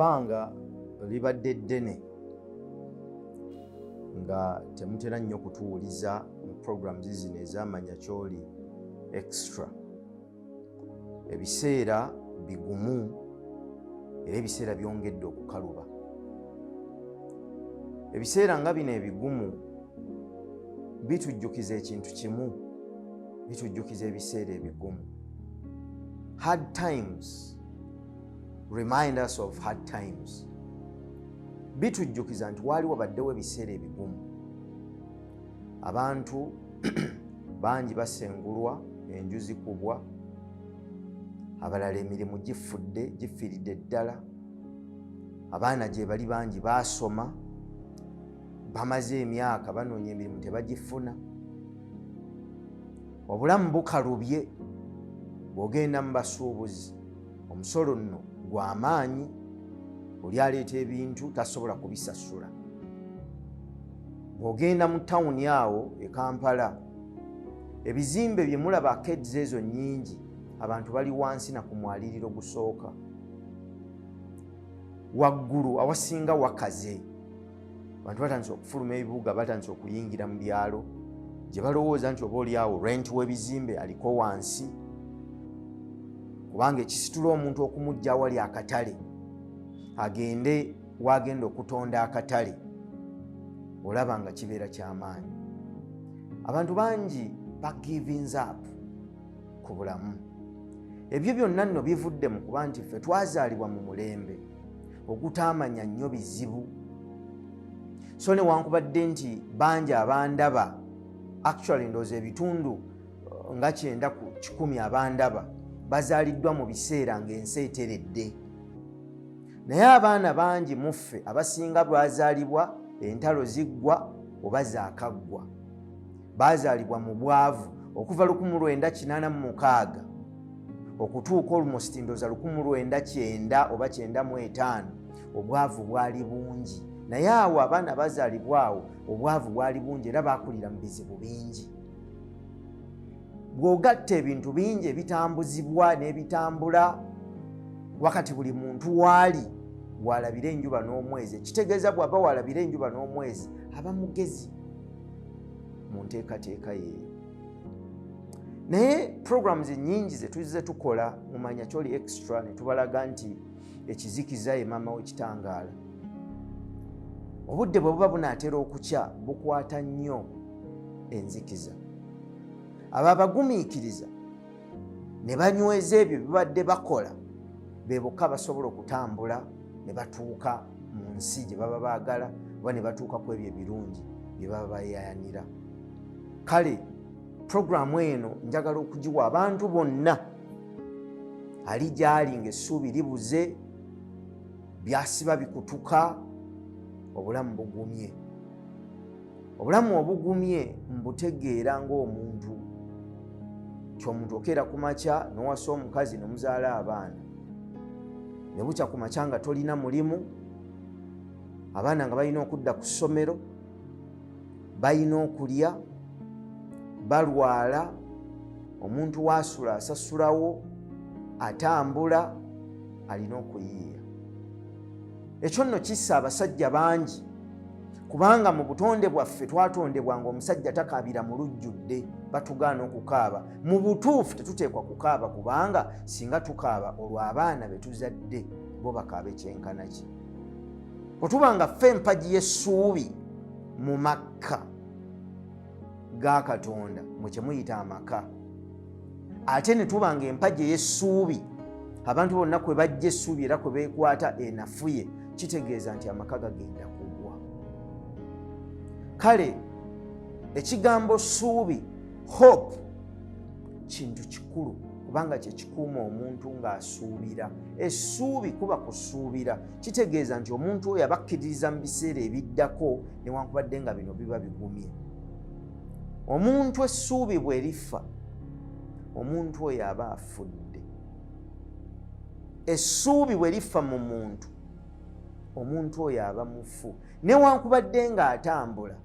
ebbanga libadde ddene nga temutera nnyo kutuwuliza mu programs zino ezamanya kyoli extra ebiseera bigumu era ebiseera byongedde okukaluba ebiseera nga bino ebigumu bitujjukiza ekintu kimu bitujjukiza ebiseera ebigumu hard times remind us of hard times bitujjukiza nti waali wabaddewo ebiseera ebigumu abantu bangi basengulwa enju zikubwa abalala emirimu gifudde gifiiridde ddala abaana gye bali bangi baasoma bamaze emyaka banoonya emirimu tebagifuna obulamu bukalubye bw'ogenda mu basuubuzi omusolo nno gw'amaanyi oli aleeta ebintu tasobola kubisasula bw'ogenda mu tawuni awo e kampala ebizimbe bye mulaba keds ezo nnyingi abantu bali wansi na ku mwaliriro gusooka waggulu awasinga wakaze abantu batandise okufuluma ebibuga batandise okuyingira mu byalo gye balowooza nti oba olyawo rent w'ebizimbe aliko wansi kubanga ekisitula omuntu okumujja awali akatale agende waagenda okutonda akatale olaba nga kibeera kyamaanyi abantu bangi bagivings up ku bulamu ebyo byonna nno bivudde mu kuba nti ffe twazaalibwa mu mulembe ogutaamanya nnyo bizibu so newankubadde nti bangi abandaba actually ndooza ebitundu uh, nga kyenda ku kikumi abandaba bazaaliddwa mu biseera ng'ensi eteredde naye abaana bangi muffe abasinga bwazaalibwa entalo ziggwa oba zaakaggwa baazaalibwa mu bwavu okuva 1986 okutuuka olumustindoza 19 oba 95 obwavu bwali bungi naye awo abaana bazaalibwawo obwavu bwali bungi era bakulira mu bizibu bingi bw'ogatta ebintu bingi ebitambuzibwa n'ebitambula wakati buli muntu waali walabira enjuba n'omwezi ekitegeeza bw'aba walabira enjuba n'omwezi aba mugezi mu nteekateeka yeeyo naye programs nyingi zetuze tukola mumanya kyoli extra netubalaga nti ekizikiza ye maama wekitangaala obudde bwe buba bunaatera okukya bukwata nnyo enzikiza abo abagumiikiriza ne banyweza ebyo bibadde bakola be bokka basobola okutambula ne batuuka mu nsi gye baba baagala oba ne batuuka ku ebyo ebirungi bye baba bayayanira kale puroguramu eno njagala okugiwa abantu bonna ali gyali ngaessuubi libuze byasiba bikutuka obulamu bugumye obulamu obugumye mbutegeera ng'omuntu kyomuntu okeera ku makya nowasa omukazi nomuzaala abaana ne bukya ku makya nga tolina mulimu abaana nga balina okudda ku ssomero balina okulya balwala omuntu waasula asasulawo atambula alina okuyiiya ekyo nno kissa abasajja bangi kubanga mu butonde bwaffe twatondebwa nga omusajja takaabira mu lujjudde batugaana okukaaba mu butuufu tetuteekwa kukaaba kubanga singa tukaaba olwo abaana be tuzadde bo bakaaba ekyenkana ki bwe tuba nga ffe empagi y'essuubi mu makka ga katonda mwe kyemuyita amaka ate ne tuba nga empagi ey'essuubi abantu bonna kwe bajja essuubi era kwe beekwata enafuye kitegeeza nti amaka gagenda kugwa kale ekigambo ssuubi hope kintu kikulu kubanga kyekikuuma omuntu ng'asuubira essuubi kuba kusuubira kitegeeza nti omuntu oyo abakkiririza mu biseera ebiddako newankubadde nga bino biba bigumye omuntu essuubi bwe liffa omuntu oyo aba afudde essuubi bwe liffa mu muntu omuntu oyo aba mufu newankubadde ng'atambula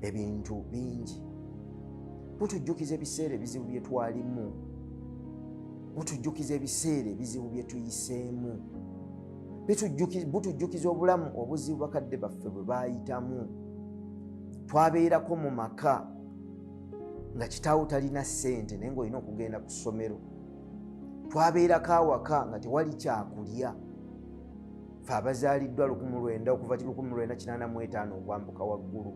ebintu bingi butujjukiza ebiseera ebizibu bye twalimu butujjukiza ebiseera ebizibu bye tuyiseemu butujjukiza obulamu obuzibu bakadde baffe bwe baayitamu twabeerako mu maka nga kitaawo talina ssente naye ngaolina okugenda ku ssomero twabeerako awaka nga tewali kyakulya fe abazaaliddwa lukumu lwenda okuva lukumu lwenda kinaana mu etaano okwambuka waggulu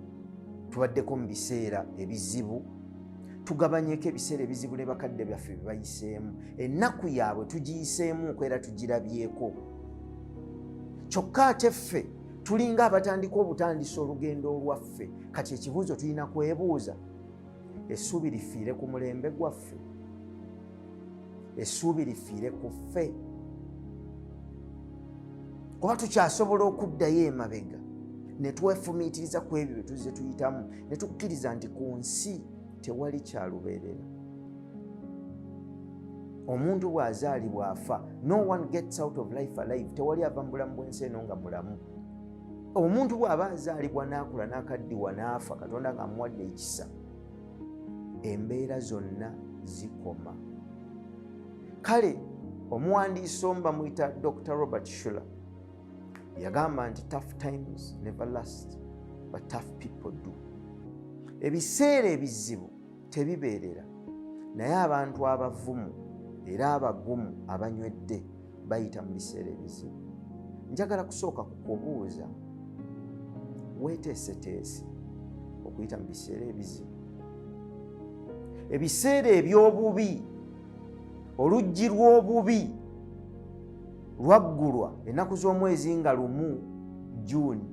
tubaddeko mu biseera ebizibu tugabanyeko ebiseera ebizibu ne bakadde byaffe byebayiseemu ennaku yaabwe tugiyiseemuuko era tugirabyeko kyokka ate ffe tulinga abatandika obutandisa olugendo olwaffe kati ekibuuzo tulina kwebuuza essuubi lifiire ku mulembe gwaffe essuubi lifiire ku ffe kuba tukyasobola okuddayo emabega ne twefumiitiriza ku ebyo bye tuzze tuyitamu ne tukkiriza nti ku nsi tewali kyalubeerera omuntu bw'azaalibwa afa no one gets out of life alive tewali ava mu bulamu bw'ensi eno nga mulamu omuntu bw'aba azaalibwa n'akula n'akaddiwa n'afa katonda ng'amuwadde ekisa embeera zonna zikoma kale omuwandiisi omu bamuyita dr robert shuler yagamba nti tough times never last but tough people do ebiseera ebizibu tebibeerera naye abantu abavumu era abagumu abanywedde bayita mu biseera ebizibu njagala kusooka kukubuuza weeteeseteese okuyita mu biseera ebizibu ebiseera eby'obubi oluggi lw'obubi lwaggulwa ennaku z'omwezi nga lumu juuni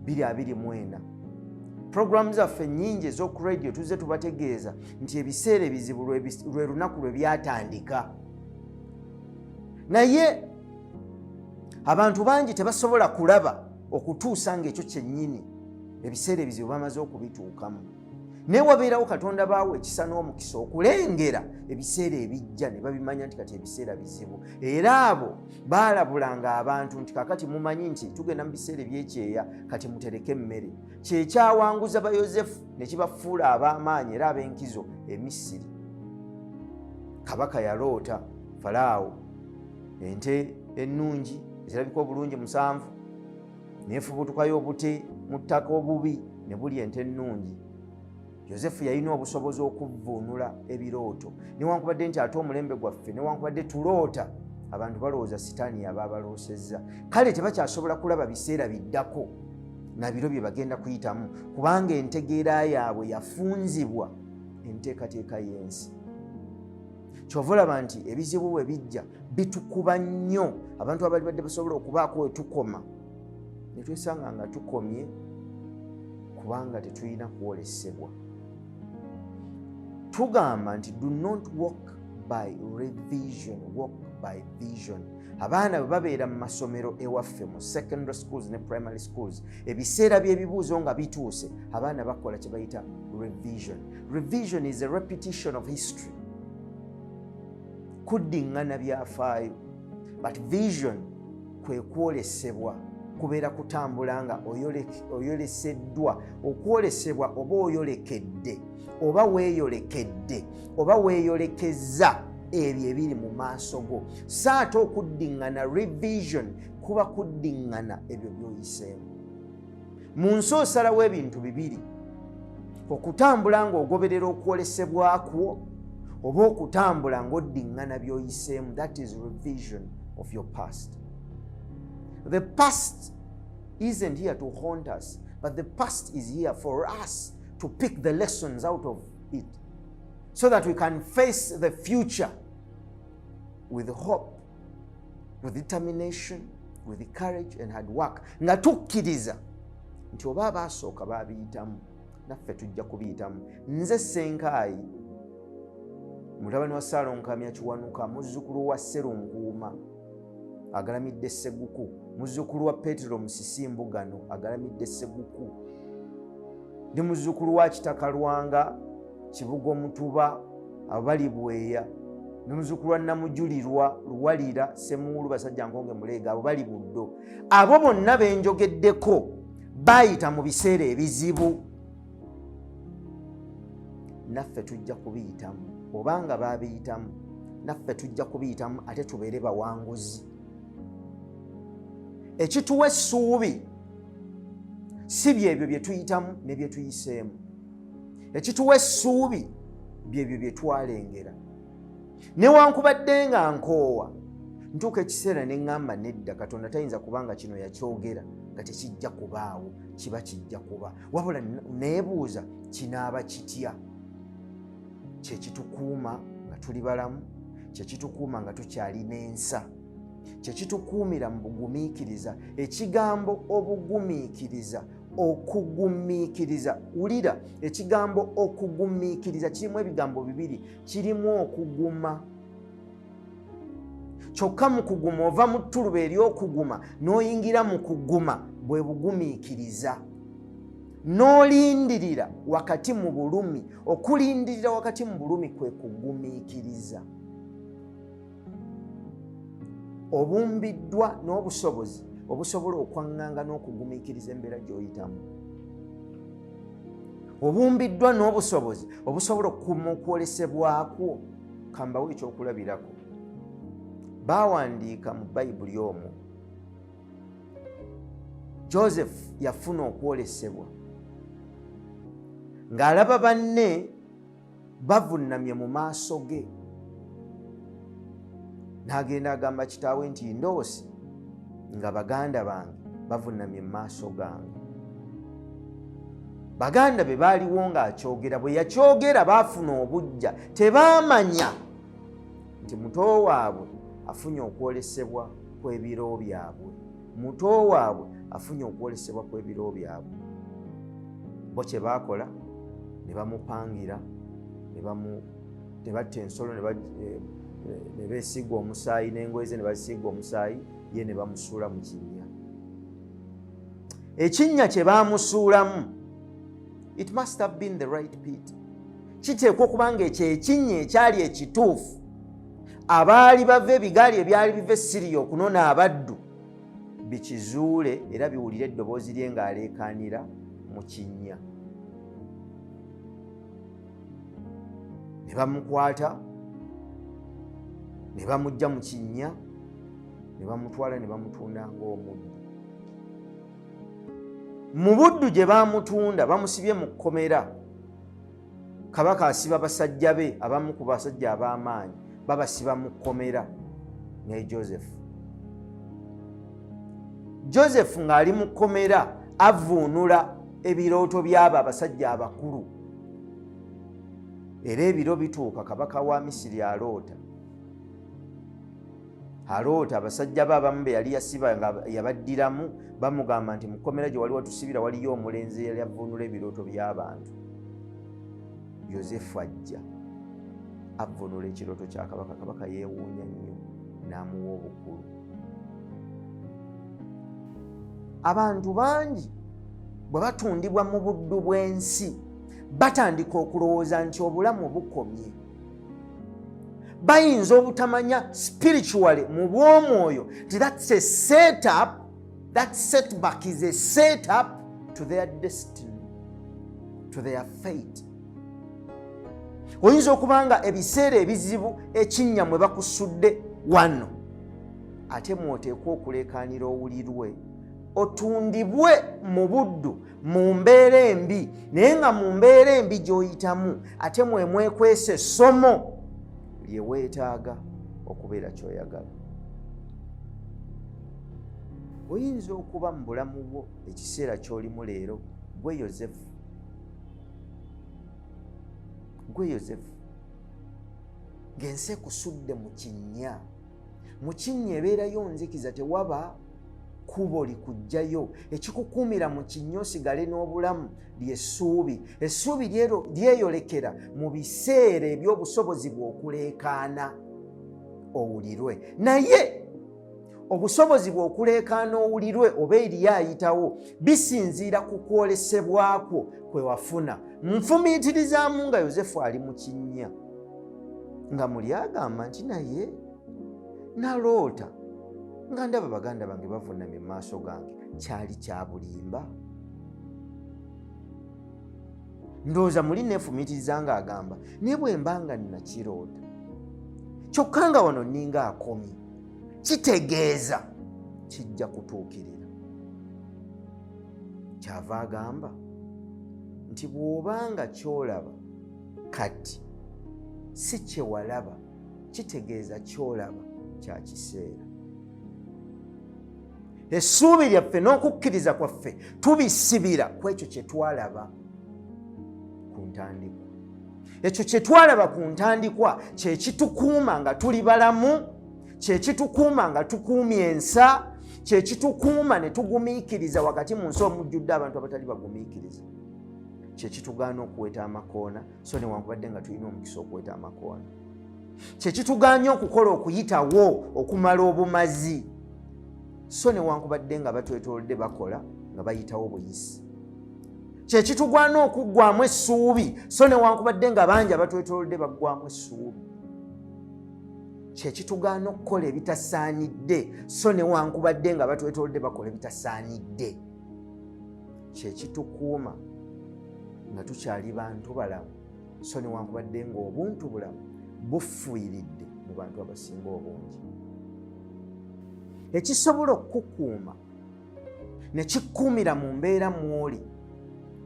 224 puroguramu zaffe nnyingi ez'oku radio tuzze tubategeeza nti ebiseera ebizibu lwe lunaku lwe byatandika naye abantu bangi tebasobola kulaba okutuusa ngaekyo kyennyini ebiseera ebizibu bamaze okubituukamu naye wabeerawo katonda baawo ekisa n'omukisa okulengera ebiseera ebijja ne babimanya nti kati ebiseera bizibu era abo baalabulanga abantu nti kakati mumanyi nti tugenda mu biseera ebyekyeya kati mutereke emmere kyekyawanguza bayosefu nekibafuula ab'amaanyi era ab'enkizo emisiri kabaka yaloota falaawo ente ennungi ezirabika obulungi musanvu nefubutukayo obute mu ttaka obubi ne buli ente ennungi yosefu yalina obusobozi okuvvuunula ebirooto newankubadde nti ate omulembe gwaffe newankubadde tuloota abantu balowooza sitaani yaba abaloosezza kale tebakyasobola kulaba biseera biddako nabiro bye bagenda kuyitamu kubanga entegeera yaabwe yafunzibwa enteekateeka y'ensi kyova olaba nti ebizibu bwe bijja bitukuba nnyo abantu abali badde basobola okubaako wetukoma ne twesanga nga tukomye kubanga tetulina kwolesebwa tugamba nti do not walk by revision walk by vision abaana bwe babeera mu masomero ewaffe mu secondary schools ne primary schools ebiseera by'ebibuuzo nga bituuse abaana bakola kye bayita revision revision is a repetition of history kuddiŋŋana byafaayo but vision kwe kwolesebwa kubeera kutambula nga oyoleseddwa okwolesebwa oba oyolekedde oba weeyolekedde oba weeyolekezza ebyo ebiri mu maaso go so ate okuddiŋŋana revision kuba kuddiŋŋana ebyo by'oyiseemu mu nsi osalawo ebintu bibiri okutambula ng'ogoberera okwolesebwa kwo oba okutambula ng'oddiŋŋana by'oyiseemu that is revision of your past the past isn't here to haunt us but the past is here for us to pick the lessons out of it so that we can face the future with hope with determination with courage and hard work nga tukkiriza nti oba abaasooka baabiyitamu naffe tujja kubiyitamu nze senkaayi mutabani wa saalonkamya kiwanuka muzzukulu wa serunkuuma agalamidde seguku muzzukulu wa petero musisimbugano agalamidde seguku ndi muzzukulu wa kitakalwanga kibuga omutuba abali bweya nomuzukulu wa namujulirwa luwalira semuulu basajja nkonge muleega abo bali buddo abo bonna benjogeddeko bayita mu biseera ebizibu naffe tujja kubiyitamu obanga babiyitamu naffe tujja kubiyitamu ate tubeere bawanguzi ekituwa essuubi si byebyo byetuyitamu nebyetuyiseemu ekituwa essuubi byebyo bye twalengera newankubadde nga nkoowa ntuuka ekiseera ne ŋŋamba nedda katonda tayinza kuba nga kino yakyogera nga tekijja kubaawo kiba kijja kuba wabula neebuuza kinaaba kitya kyekitukuuma nga tuli balamu kyekitukuuma nga tukyalina ensa kyekitukuumira mu bugumiikiriza ekigambo obugumiikiriza okugumiikiriza wulira ekigambo okugumiikiriza kirimu ebigambo bibiri kirimu okuguma kyokka mu kuguma ova mu ttuluba ery'okuguma n'oyingira mu kuguma bwe bugumiikiriza n'olindirira wakati mu bulumi okulindirira wakati mu bulumi kwe kugumiikiriza obumbiddwa n'obusobozi obusobola okwaŋŋanga n'okugumiikiriza embeera gy'oyitamu obumbiddwa n'obusobozi obusobola okukuma okwolesebwakwo kambawo ekyokulabirako baawandiika mu bayibuli omwo joseph yafuna okwolesebwa ng'alaba banne bavunnamye mu maaso ge n'agenda agamba kitaawe nti ndoose nga baganda bange bavunnamye mu maaso gange baganda be baaliwo ng'akyogera bwe yakyogera baafuna obujja tebaamanya nti muto waabwe afunye okwolesebwa kw'ebiro byabwe muto waabwe afunye okwolesebwa kw'ebiro byabwe bo kye baakola ne bamupangira ne batta ensolo ne eh, eh, beesiiga omusaayi n'engoye ze ne bazisiiga omusaayi ye ne bamusuula mu kinnya ekinnya kye baamusuulamu it must have been the right pit kiteekwa okuba nga ekyo ekinnya ekyali ekituufu abaali bava ebigaali ebyali biva essiriya okunona abaddu bikizuule era biwulire eddoboozi lye ng'aleekaanira mu kinnya ne bamukwata ne bamujja mu kinnya ne bamutwala ne bamutunda ng'omuddu mu buddu gye baamutunda bamusibye mu kkomera kabaka asiba basajja be abamu ku basajja ab'amaanyi babasiba mu kkomera ne joseph joseph ng'ali mu kkomera avuunula ebirooto by'abo abasajja abakulu era ebiro bituuka kabaka wa misiri aloota aloota abasajja be abamu be yali yasiba nga yabaddiramu bamugamba nti mukomera gye wali watusibira waliyo omulenzi eyali avvuunula ebirooto by'abantu yosefu ajja avvuunula ekirooto kya kabaka kabaka yeewuunya nnyo n'amuwa obukulu abantu bangi bwe batundibwa mu buddu bw'ensi batandika okulowooza nti obulamu bukomye bayinza obutamanya spiritually mu bwomwoyo ti thats a set up that setback is a set up to their destiny to their fate oyinza okuba nga ebiseera ebizibu ekinnya mwe bakusudde wano ate mwoteekwa okuleekaanira owulirwe otundibwe mu buddu mu mbeera embi naye nga mu mbeera embi gy'oyitamu ate mwemwekwesa essomo lye weetaaga okubeera kyoyagala oyinza okuba mu bulamu bwo ekiseera ky'olimu leero gwe yosefu gwe yosefu ng'ensi ekusudde mu kinnya mu kinnya ebeerayo nzikiza tewaba kkubo likujjayo ekikukuumira mu kinnya osigale n'obulamu ly'essuubi essuubi lyeyolekera mu biseera eby'obusobozi bw'okuleekaana owulirwe naye obusobozi bw'okuleekaana owulirwe oba eriyo ayitawo bisinziira ku kwolesebwa kwo kwe wafuna nfumiitirizaamu nga yosefu ali mu kinnya nga muli agamba nti naye naloota nga ndaba baganda bange bavunamye mu maaso gange kyali kyabulimba ndowooza muli neefumitiriza nga agamba naye bwe mba nga nnakiroota kyokka nga wano nninga akomye kitegeeza kijja kutuukirira kyava agamba nti bw'oba nga kyolaba kati si kyewalaba kitegeeza kyolaba kya kiseera essuubi lyaffe n'okukkiriza kwaffe tubisibira ku ekyo kye twalaba ku ntandikwa ekyo kye twalaba ku ntandikwa kye kitukuuma nga tuli balamu kye kitukuuma nga tukuumye ensa kye kitukuuma ne tugumiikiriza wakati mu nsi omujjudde abantu abatali bagumiikiriza kye kitugaana okuweta amakoona so newankubadde nga tulina omukisa okuweta amakoano kyekituganya okukola okuyitawo okumala obumazi so newankubadde nga batwetolodde bakola nga bayitawo buyisi kyekitugwana okuggwamu essuubi so newankubadde nga bangi abatwetolodde baggwamu essuubi kyekitugaana okukola ebitasaanidde so newankubadde nga batwetolodde bakola ebitasaanidde kyekitukuuma nga tukyali bantu balamu so newankubadde nga obuntu bulamu bufuyiridde mu bantu abasinga obungi ekisobola okukukuuma nekikuumira mu mbeera mwoli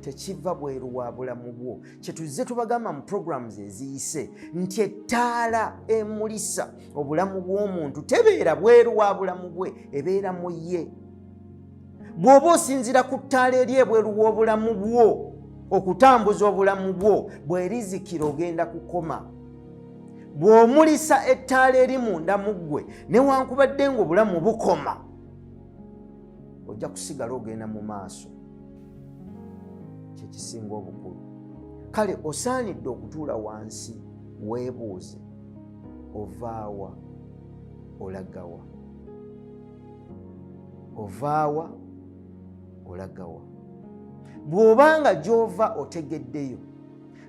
tekiva bweru wa bulamu bwo kyetuzze tubagamba mu programs eziyise nti ettaala emulisa obulamu bw'omuntu tebeera bweru wa bulamu bwe ebeera mu ye bw'oba osinzira ku ttaala eri ebweru w'obulamu bwo okutambuza obulamu bwo bwerizikira ogenda kukoma bw'omulisa ettaala eri munda mu ggwe newankubadde ngaobulamu bukoma ojja kusigala ogenda mu maaso kyekisinga obukulu kale osaanidde okutuula wansi weebuuze ovaawa olagawa ovaawa olagawa bw'obanga gy'ova otegeddeyo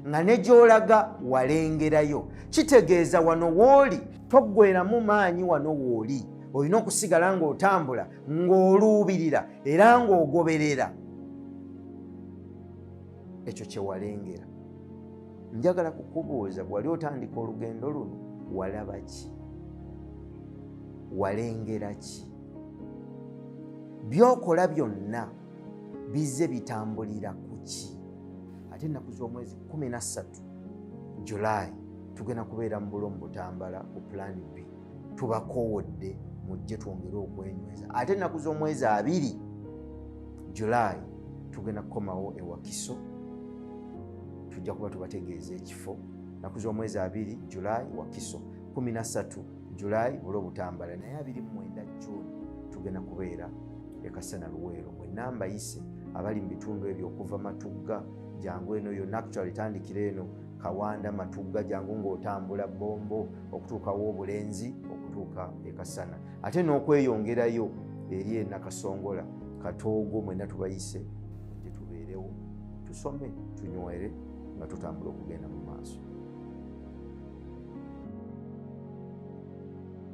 nga ne gy'olaga walengerayo kitegeeza wano wooli toggweramu maanyi wano wooli olina okusigala ng'otambula ng'oluubirira era ng'ogoberera ekyo kyewalengera njagala kukubuuza bwewali otandika olugendo luno walaba ki walengera ki byokola byonna bizze bitambulira ku ki ate ennaku z'omwezi 13 julayi tugenda kubeera mu bulo mu butambala ku pulaani bbiri tubakowodde mujje twongere okwenyweza ate ennaku z'omwezi abiri july tugenda kukomawo ewakiso tujja kuba tubategeeza ekifo naku z'omwezi abiri july wakiso 13 july bula obutambala naye 29 june tugenda kubeera ekasana luweero mwenna mbayise abali mu bitundu ebyo okuva matugga jangu eno yonna actual etandikira eno kawanda matugga jangu ng'otambula bombo okutuukawo obulenzi okutuuka ekasana ate n'okweyongerayo eri enakasongola katoogo mwena tubayise gye tubeerewo tusome tunywere nga tutambula okugenda mu maaso